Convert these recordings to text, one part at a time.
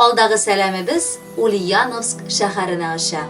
Алдагы сәламебез Ульяновск шәһәренә оча.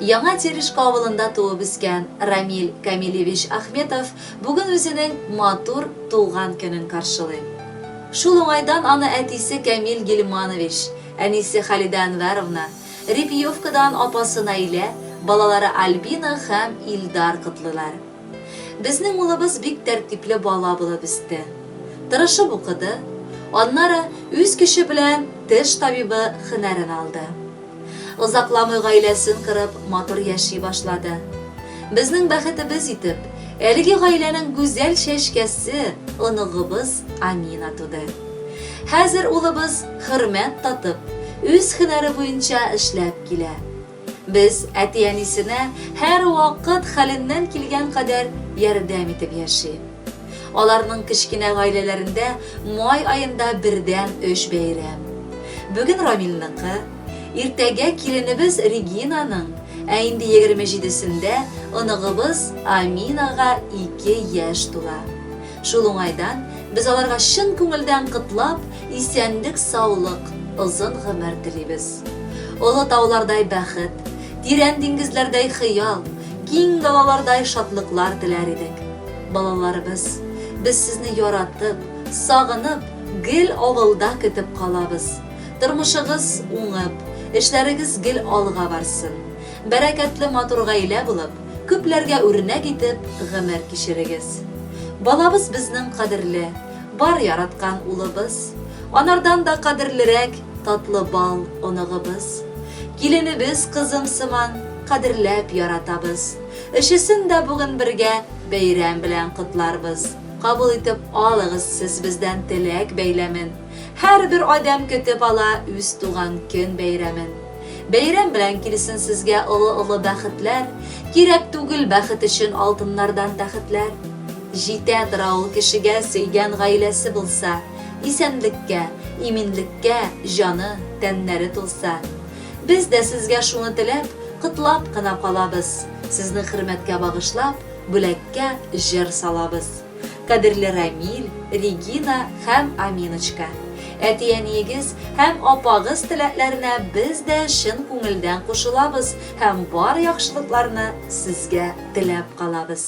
Яңа Терешка авылында туып-үскән Рамил Камилевич Ахметов бүген үзенең матур туган көнен каршылый. Шул уңайдан аны әтисе Камил Гильманович, әнисе Халидә Әнвәровна, Репьевкадан апасы Наилә, балалары Альбина һәм Илдар котлыйлар. Безнең улыбыз бик тәртипле бала булып үсте. Тырышып укыды, аннары үз көче белән теш табибы хөнәрен алды. Озакламый гаиләсен корып, матур яши башлады. Безнең бәхетебез итеп, әлеге гаиләнең гүзәл чәчкәсе, оныгыбыз Амина туды. Хәзер улыбыз хөрмәт татып, үз хөнәре буенча эшләп килә. Без әти-әнисенә һәрвакыт хәленнән килгән кадәр ярдәм итеп яши. Аларның кечкенә гаиләләрендә май аенда бердәм өч бәйрәм. Бүген Рамилныкы, иртәгә киленебез Регинаның, ә инде егерме җидесендә оныгыбыз Аминага ике яшь тула. Шул уңайдан без аларга чын күңелдән котлап, Исәнлек саулык, озын гомер телибез. Олы таулардай бәхет, тирән диңгезләрдәй хыял, киң далалардай шатлыклар теләр идек. Балаларыбыз, без сезне яратып, сагынып, гел авылда көтеп калабыз. Тормышыгыз уңып, эшләрегез гел алга барсын. Бәрәкәтле матур гаилә булып, күпләргә үрнәк итеп гомер кичерегез. Балабыз безнең кадерле. Бар яраткан улыбыз. Анардан да кадерлерәк Татлы бал оныгыбыз. Киленебез кызым сыман Кадерләп яратабыз. Өчесен дә бүген бергә Бәйрәм белән котларбыз. Кабул итеп алыгыз сез бездән Теләк бәйләмен. Һәрбер адәм көтеп ала Үз туган көн бәйрәмен. Бәйрәм белән килсен сезгә олы-олы бәхетләр, кирәк түгел бәхет өчен алтыннардан тәхетләр. Җитә тора ул кешегә сөйгән гаиләсе булса, исәнлеккә, иминлеккә җаны, тәннәре тулса. Без дә сезгә шуны теләп, котлап кына калабыз, сезне хөрмәткә багышлап, бүләккә җыр салабыз. Кадерле Рамил, Регина һәм Аминочка! Әти-әниегез һәм апагыз теләкләренә без дә чын күңелдән кушылабыз һәм бар яхшылыкларны сезгә теләп калабыз!